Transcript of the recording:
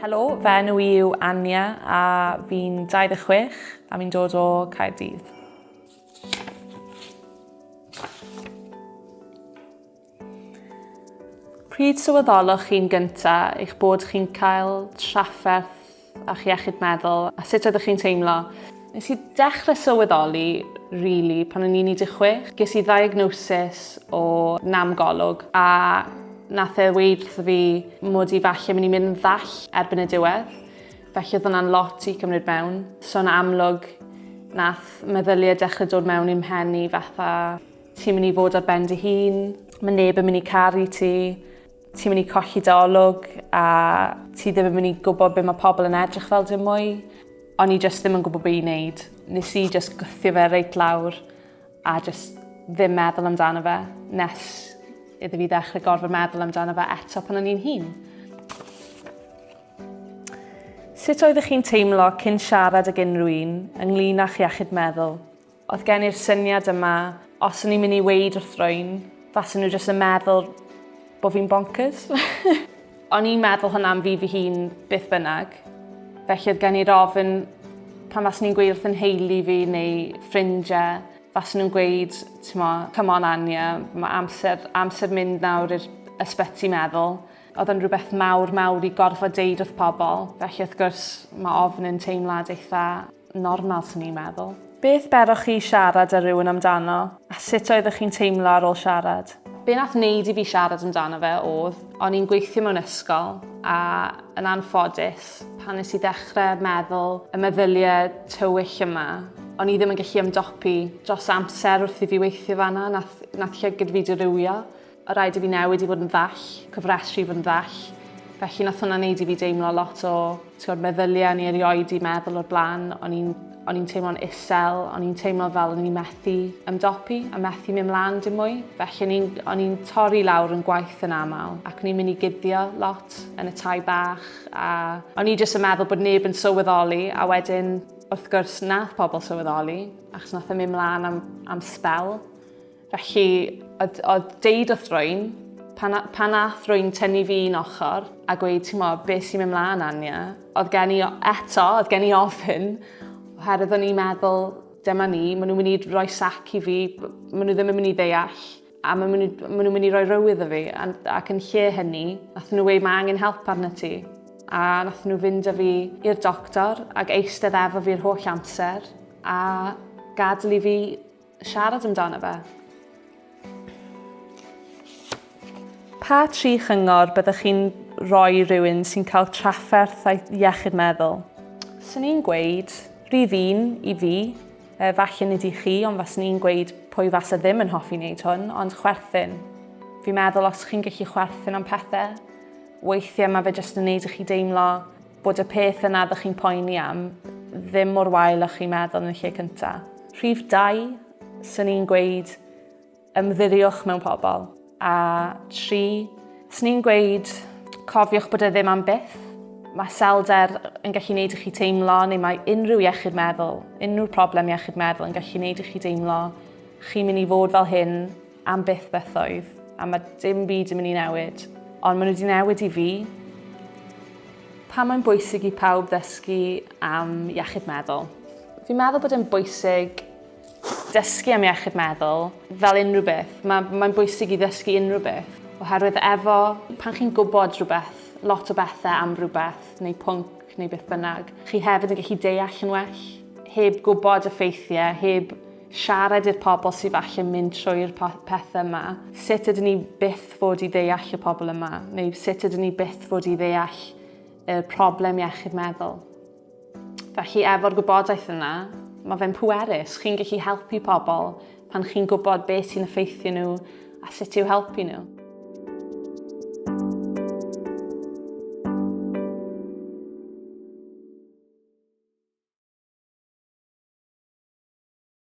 Helo, fe enw i yw Anya a fi'n 26 a fi'n dod o Caerdydd. Pryd sylweddoloch chi'n gyntaf eich bod chi'n cael trafferth a'ch iechyd meddwl a sut oeddech chi'n teimlo. Nes i dechrau sylweddoli, really, pan o'n i'n 16. Ges i ddiagnosis o namgolwg a nath e weid wrtho fi mod i falle mynd i mynd yn ddall erbyn y diwedd. Felly oedd hwnna'n lot i cymryd mewn. So'n amlwg nath meddyliau dechrau dod mewn i'm mhen i fatha ti'n mynd i fod ar ben dy hun, mae neb yn mynd i caru ti, Ti'n mynd i colli dy olwg a ti ddim yn mynd i gwybod be mae pobl yn edrych fel dim mwy. O'n i jyst ddim yn gwybod be i wneud. Nes i jyst gwthio fe reit lawr a jyst ddim meddwl amdano fe nes iddo fi ddechrau gorfod meddwl amdano fe eto pan o'n i'n hun. Sut oeddech chi'n teimlo cyn siarad ag unrhyw un ynglyn â'ch iechyd meddwl? Oedd gen i'r syniad yma, os o'n i'n mynd i weid wrth rwy'n, fasen nhw jyst yn meddwl bod fi'n bonkers. o'n i'n meddwl hwnna am fi fy hun beth bynnag. Felly oedd gen i'r ofyn pan fasen ni'n gweud wrth yn heili fi neu ffrindiau, fasen nhw'n gweud, come on Anya, mae amser, amser mynd nawr i'r ysbyty meddwl. Oedd yn rhywbeth mawr mawr i gorfod deud wrth pobl, felly wrth gwrs mae ofn yn teimlad eitha normal swn i'n meddwl. Beth beroch chi i siarad â rhywun amdano, a sut oeddech chi'n teimlo ar ôl siarad? Be nath neud i fi siarad amdano fe odd, o'n i'n gweithio mewn ysgol a yn anffodus, pan nes i ddechrau meddwl y meddyliau tywyll yma, o'n i ddim yn gallu ymdopi dros amser wrth i fi weithio fanna, nath nath llygid fi dirywio. Oedd rhaid i fi newid i fod yn ddall, cofrestru i fod yn ddall. Felly nath hwnna wneud i fi deimlo lot o tywed, meddyliau, ni erioed i meddwl o'r blaen. O'n i'n o'n i'n teimlo'n isel, o'n i'n teimlo fel o'n i'n methu ymdopi a methu mynd mlaen dim mwy. Felly o'n i'n o'n i'n torri lawr yn gwaith yn aml ac o'n i'n mynd i guddio lot yn y tai bach a o'n i jyst yn meddwl bod neb yn sylweddoli a wedyn wrth gwrs nath pobl sylweddoli achos nath e mynd mlaen am, am sbel. Felly, oedd, oedd deud wrth rwy'n, pan, pan ath rwy'n tynnu fi un ochr a gweud, ti'n mo, beth sy'n mynd mlaen, Anya, oedd gen i eto, oedd gen i ofyn, oherwydd o'n i'n meddwl, dyma ni, maen nhw'n mynd i roi sac i fi, maen nhw ddim yn mynd i ddeall, a maen nhw'n maen nhw mynd i roi rywydd o fi, ac yn lle hynny, nath nhw wei, mae angen help arno ti. A nath nhw fynd â fi i'r doctor ac eistedd efo fi'r holl amser, a gadw i fi Siarad amdano fe. Pa tri chyngor byddech chi'n rhoi rhywun sy'n cael trafferth a'i iechyd meddwl? Swn i'n gweud, rhydd un i fi, e, falle nid i chi, ond faswn i'n gweud pwy fasa ddim yn hoffi wneud hwn, ond chwerthin. Fi'n meddwl os chi'n gallu chwerthin am pethau, weithiau mae fe jyst yn wneud i chi deimlo Bod y peth yna ydych chi'n poeni am ddim mor wael â chi'n meddwl yn y lle cynta. Rhif dau, swn i'n gweud ymddiriwch mewn pobl. A tri, swn i'n gweud cofiwch bod e ddim am byth. Mae selder yn gallu gwneud i chi teimlo, neu mae unrhyw iechyd meddwl, unrhyw problem iechyd meddwl yn gallu gwneud i chi deimlo chi'n mynd i fod fel hyn Am byth bythoedd, a mae dim byd yn mynd i newid. Ond maen nhw wedi newid i fi. Pa mae'n bwysig i pawb ddysgu am iechyd meddwl? Fi'n meddwl bod e'n bwysig dysgu am iechyd meddwl fel unrhyw beth. Mae'n mae bwysig i ddysgu unrhyw beth. Oherwydd efo, pan chi'n gwybod rhywbeth, lot o bethau am rhywbeth, neu pwnc, neu beth bynnag, chi hefyd yn gallu deall yn well, heb gwybod y ffeithiau, heb Siarad i'r pobl sydd falle mynd trwy'r pethau yma. Sut ydyn ni byth fod i ddeall y pobl yma? Neu sut ydyn ni byth fod i ddeall y problem iechyd meddwl? Felly efo'r gwybodaeth yna, mae fe'n pwerus. Chi'n gallu helpu pobl pan chi'n gwybod beth sy'n effeithio nhw a sut i'w helpu nhw.